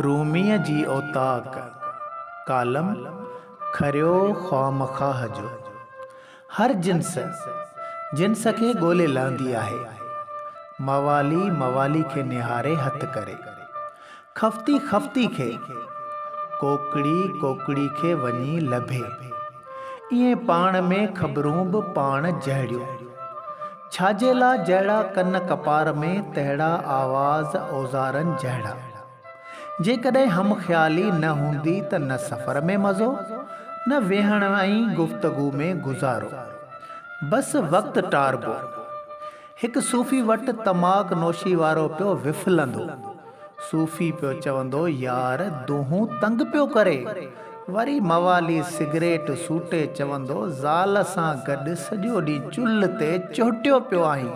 روميء جي اوطاق، ڪالم، کريو خوامخواهه جو. هر جنس، جنس کي ڳولي لهندي آهي. موالي، موالي کي نهاري هٿ ڪري. خفتي، خفتي کي. ڪوڪڙي، ڪوڪڙي کي وڃي لڀي. ائين پاڻ ۾ خبرون به پاڻ جهڙيون. ڇاجي لا جهڙا ڪن ڪپار ۾، تهڙا آواز اوزارن جهڙا. جيڪڏهن هم خيالي نه هوندي ته نه سفر ۾ مزو، نه ويهڻ ۽ گفتگو ۾ گذارو. بس وقت ٽاربو. هڪ صوفي وٽ تماڪ نوشي وارو پيو وڦلندو. صوفي پيو چوندو يار دونهون تنگ پيو ڪري. وري موالي سگريٽ سوٽي چوندو زال سان گڏ سڄو ڏينهن چلهه تي چهٽيو پيو آهين.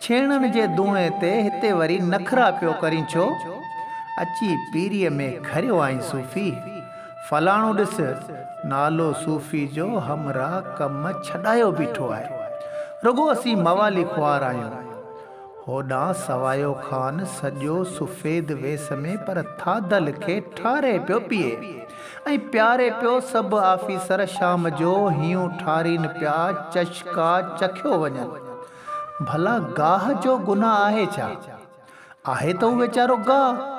ڇيڻن جي دونهي تي هتي وري نخرا پيو ڪرين ڇو؟ اچي پيريء ۾ کريو آهين صوفي. فلاڻو ڏس نالو صوفي جو همراهه ڪم ڇڏايو بيٺو آهي. رڳو اسين موالي خوار آهيون. هوڏانهن سوايو خان سڄو سفيد ويس ۾ پر ٿاڌل کي ٺاري پيو پيئي ۽ پياري پيو سڀ آفيسر شام جو هيون ٺارين پيا چشڪا چکيو وڃن ڀلا گاهه جو گناهه آهي ڇا؟ آهي ته هو ويچارو گاهه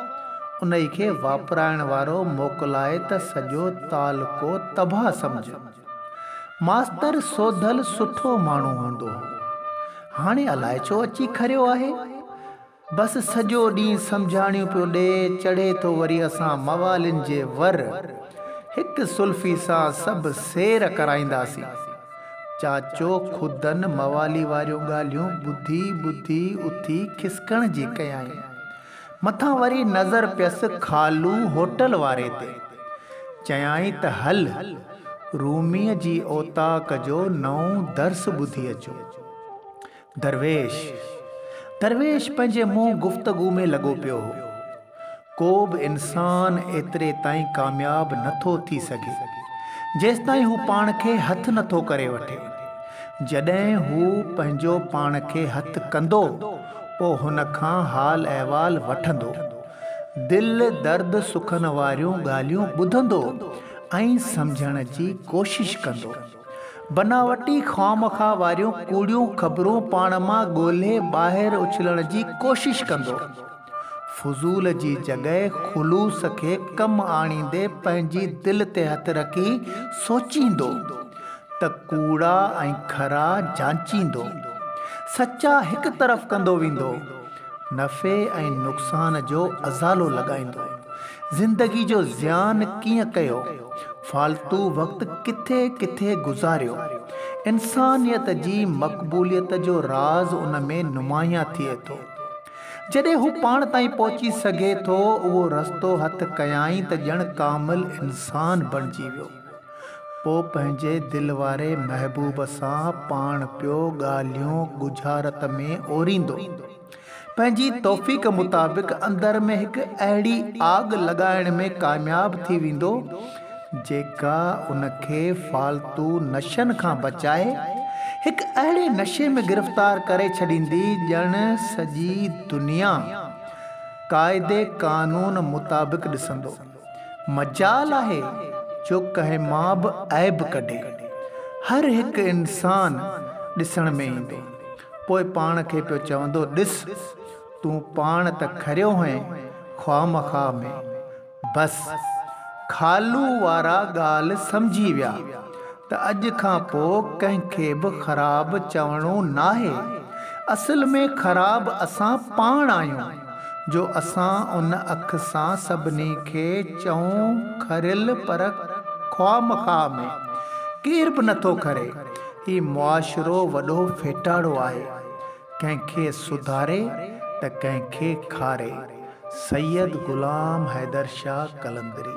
انهي کي واپرائڻ وارو موڪلائي ته سڄو تعلقو تباهه سمجهه. ماستر سوڌل سٺو ماڻهو هوندو هو. هاڻي الاء ڇو اچي کريو آهي. بس سڄو ڏينهن سمجهاڻيون پيو ڏئي، چڙهي ٿو وري اسان موالين جي ور. هڪ سلفي سان سڀ سير ڪرائينداسين. چاچو خودن موالي واريون ڳالهيون ٻڌي ٻڌي اٿي کسڪڻ جي ڪيائين. مٿان وري نظر پيس خالو هوٽل واري تي. چيائين ته هل، روميء جي اوطاق جو نئون درس ٻڌي اچون. درويش. درويش پنهنجي منهن گفتگو ۾ لڳو پيو هو. ڪو به انسان ايتري تائين ڪامياب نه ٿو ٿي سگهي، جيستائين هو پاڻ کي هٿ نه ٿو ڪري وٺي. جڏهن هو پنهنجو پاڻ کي هٿ ڪندو. پوء هن کان حال احوال وٺندو. دل درد سکن واريون ڳالهيون ٻڌندو ۽ سمجهڻ جي ڪوشش ڪندو. بناوٽي خواهمخواهه واريون ڪوڙيون خبرون پاڻ مان ڳولهي ٻاهر اڇلڻ جي ڪوشش ڪندو. فضول جي جڳهه خلوص کي ڪم آڻيندي پنهنجي دل تي هٿ رکي سوچيندو. ته ڪوڙا ۽ کرا جانچيندو، سچا هڪ طرف ڪندو ويندو، نفعي ۽ نقصان جو ازالو لڳائيندو، زندگي جو زيان ڪيئن ڪيو، فالتو وقت ڪٿي ڪٿي گذاريو، انسانيت جي مقبوليت جو راز ان ۾ نمايان ٿئي ٿو. جڏهن هو پاڻ تائين پهچي سگهي ٿو، اهو رستو هٿ ڪيائين ته ڄڻ ڪامل انسان بڻجي ويو. پوء پنهنجي دل واري محبوب سان پاڻ پيو ڳالهيون ڳجهارت ۾ اوريندو. پنهنجي توفيق مطابق اندر ۾ هڪ اهڙي آڳ لڳائڻ ۾ ڪامياب ٿي ويندو، جيڪا ان کي فالتو نشن کان بچائي، هڪ اهڙي نشي ۾ گرفتار ڪري ڇڏيندي، ڄڻ سڄي دنيا قاعدي قانون مطابق ڏسندو. مجال آهي جو ڪنهن مان به عيب ڪڍي. هر هڪ انسان ڏسڻ ۾ ايندو. پوء پاڻ کي پيو چوندو ڏس تون پاڻ ته کريو هئين خوامخواه ۾. بس خالو وارا ڳالهه سمجهي ويا. ته اڄ کان پوء ڪنهن کي به خراب چوڻو ناهي. اصل ۾ خراب اسان پاڻ آهيون جو اسان ان اک سان سڀني کي چئون کريل پر خواهه مخواهه ۾ ڪير به نٿو کري. هي معاشرو وڏو ڦيٽاڙو آهي. ڪنهن کي سڌاري ته ڪنهن کي کاري. سيد غلام حيدر شاهه قلندري.